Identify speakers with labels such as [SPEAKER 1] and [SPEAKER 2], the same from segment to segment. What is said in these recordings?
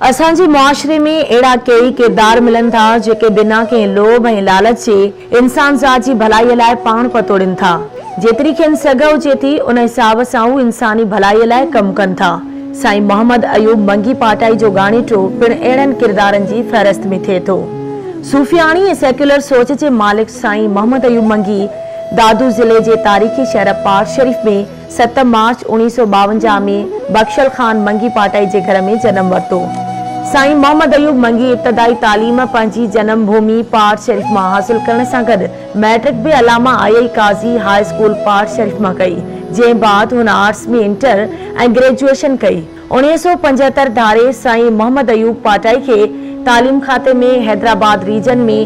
[SPEAKER 1] اسان جي معاشري ۾ اهڙا ڪيئي ڪردار ملن ٿا، جيڪي بنا ڪنهن لوڀ ۽ لالچ جي انسان ذات جي ڀلائي لاء پاڻ پتوڙين ٿا. جيتري کين سگهه هجي ٿي، ان حساب سان هو انساني ڀلائي لاء ڪم ڪن ٿا. سائين محمد ايوب منگي پاٽائي جو ڳاڻيٽو پڻ اهڙن ڪردارن جي فهرست ۾ ٿئي ٿو. صوفياڻي ۽ سيڪيولر سوچ جي مالڪ سائين محمد ايوب منگي دادو ضلعي جي تاريخي شهر پاڙ شريف ۾ ست مارچ اوڻيهه سؤ ٻاونجاهه ۾ بخشل خان منگي پاٽائي جي گهر ۾ جنم ورتو. سائين محمد ايوب منگي ابتدائي تعليم پنهنجي جنم ڀومي پاڙ شريف مان حاصل ڪرڻ سان گڏ مئٽرڪ به علامه آء اي قاضي هاء اسڪول پاڙ شريف مان ڪئي جنهن بعد هن آرٽس ۾ انٽر ۽ گريجوئيشن ڪئي. اڻيهه سؤ پنجهتر ڌاري سائين محمد ايوب پاٽائي کي تعليم کاتي ۾ حيدرآباد ريجن ۾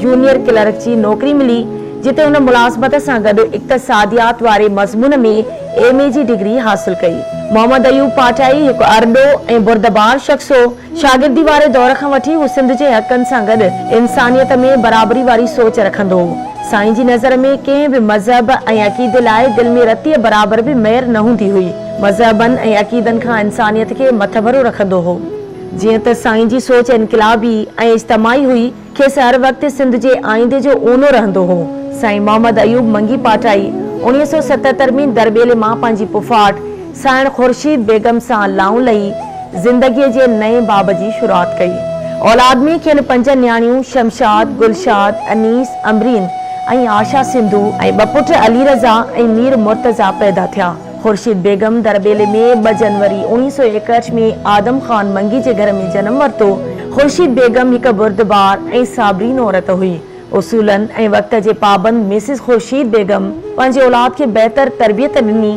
[SPEAKER 1] جونيئر ڪلرڪ جي نوڪري ملي، جتي هن ملازمت سان گڏ اقتصاديات واري مضمون ۾ ايم اي جي ڊگري حاصل ڪئي. محمد ايوب پاٽائي هڪ ارڏو ۽ بردبار شخص هو. شاگردي واري دور کان وٺي هو سنڌ جي حقن سان گڏ انسانيت ۾ برابري واري سوچ رکندو هو. سائين جي نظر ۾ ڪنهن به مذهب ۽ عقيدي لاء دل ۾ رتيء برابر به مير نه هوندي هئي. مذهبن ۽ عقيدن کان انسانيت کي مٿڀرو رکندو هو. جيئن ته سائين جي سوچ انقلابي ۽ اجتماعي هئي، کيس هر وقت سنڌ جي آئيندي جو اونو رهندو هو. سائين محمد ايوب منگي پاٽائي اوڻيهه سؤ ستهتر ۾ درٻيلي مان پنهنجي پڦاٽ سانئڻ خورشيد بيگم سان لانء لهي زندگيء جي نئين باب جي شروعات ڪئي. اولاد ۾ کين پنج نياڻيون شمشاد، گلشاد، انيس، امرين ۽ آشا سنڌو ۽ ٻه پٽ علي رضا ۽ مير مرتضيٰ پيدا ٿيا. خورشيد بيگم درٻيلي ۾ ٻه جنوري اوڻيهه سؤ ايڪهٺ ۾ آدم خان منگي جي گهر ۾ جنم ورتو. خورشيد بيگم هڪ بردبار ۽ صابرين عورت هئي. اصولن ۽ وقت جي پابند مسز خورشيد بيگم پنهنجي اولاد کي بهتر تربيت ڏني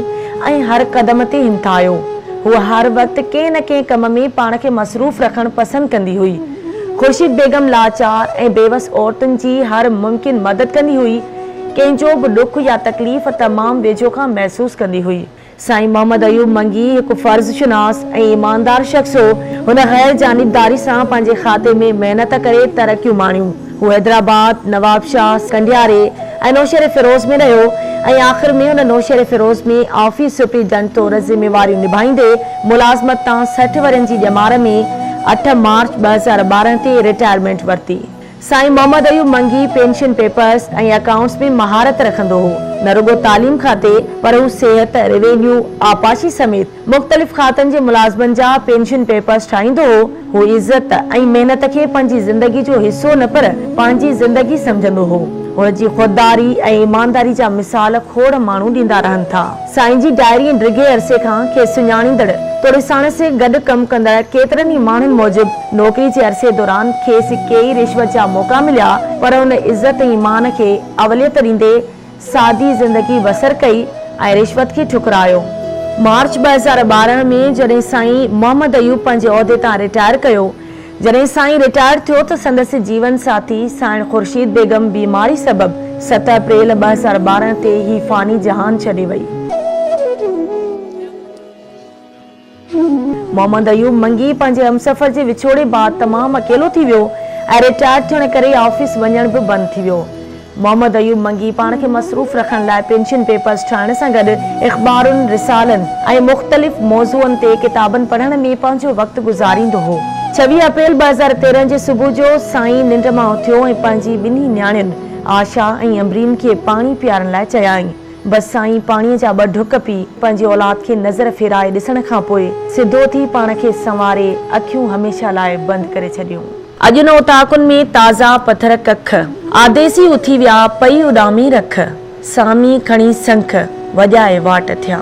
[SPEAKER 1] ۽ هر قدم تي همٿايو. هوء هر وقت ڪنهن نه ڪنهن ڪم ۾ پاڻ کي مصروف رکڻ پسند ڪندي هئي. خورشيد بيگم لاچار ۽ بيوس عورتن جي هر ممڪن مدد ڪندي هئي. ڪنهن جو به ڏک يا تڪليف تمام ويجهو کان محسوس ڪندي هئي. سائين محمد ايوب منگي هڪ فرض شناس ۽ ايماندار شخص هو. هن غير جانبداري سان پنهنجي کاتي ۾ محنت ڪري ترقيون ماڻيون. هو حيدرآباد، نوابشاهه، سنڌياري ۽ نوشهريفيروز ۾ رهيو ۽ آخر ۾ هن نوشهريفيروز ۾ آفيس سپريڊنٽ طور ذميواريون نڀائيندي ملازمت تان سٺ ورهين جي ڄمار ۾ اٺ مارچ ٻه هزار ٻارهن تي رٽائرمينٽ ورتي. سائين Mohammad Ayub Mangi pension papers ۽ accounts ۾ مهارت رکندو هو. نه رڳو تعليم کاتي پر هو صحت، روينيو، آبپاشي سميت مختلف کاتن جي ملازمن جا پينشن پيپرز ٺاهيندو هو. هو عزت ۽ محنت کي پنهنجي زندگي جو حصو نه پر پنهنجي زندگي سمجهندو هو. هن جي خودداري ۽ ايمانداري جا مثال کوڙ ماڻهو ڏيندا رهن ٿا. سائين جي ڊائري ۽ ڊگهي عرصي کان کيس سڃاڻيندڙ توڙي ساڻس گڏ ڪم ڪندڙ ڪيترن ئي ماڻهن موجب نوڪري جي عرصي دوران کيس ڪيئي رشوت جا موقعا مليا پر هن عزت ۽ ايمان کي اوليت ڏيندي سادي زندگي بسر ڪئي ۽ رشوت کي ٺڪرايو. مارچ ٻه هزار ٻارهن ۾ جڏهن سائين محمد ايوب پنهنجي عهدي تان رٽائر ڪيو جڏهن سائين رٽائرڊ ٿيو ته سندس جيون ساٿي سائڻ خورشيد بيگم بيماري سبب ست اپريل ٻه هزار ٻارهن تي هي فاني جهان ڇڏي وئي. محمد ايوب منگي پنهنجي همسفر جي وڇوڙي بعد تمام اڪيلو ٿي ويو ۽ رٽائرڊ ٿيڻ ڪري آفيس وڃڻ به بند ٿي ويو. محمد ايوب منگي پاڻ کي مصروف رکڻ لاء پينشن پيپرز ٺاهڻ سان گڏ اخبارن، رسالن ۽ مختلف موضوعن تي ڪتابن پڙهڻ ۾ پنهنجو وقت گذاريندو هو. ڇويهه اپريل ٻه هزار تيرهن جي صبح جو سائين ننڊ مان اٿيو ۽ پنهنجي ٻنهي نياڻين آشا ۽ امبرين کي پاڻي پيارڻ لاء چيائين. بس سائين پاڻيء جا ٻه ڍڪ پي پنهنجي اولاد کي نظر ڦيرائي ڏسڻ کان پوء سڌو ٿي پاڻ کي سنواري اکيون هميشه لاء بند ڪري ڇڏيون. اڄ ان اوطاقن ۾ تازا پٿر ڪک. آديسي اٿي ويا پئي اڏامي رک. سامي کڻي سنک، وڄائي واٽ ٿيا.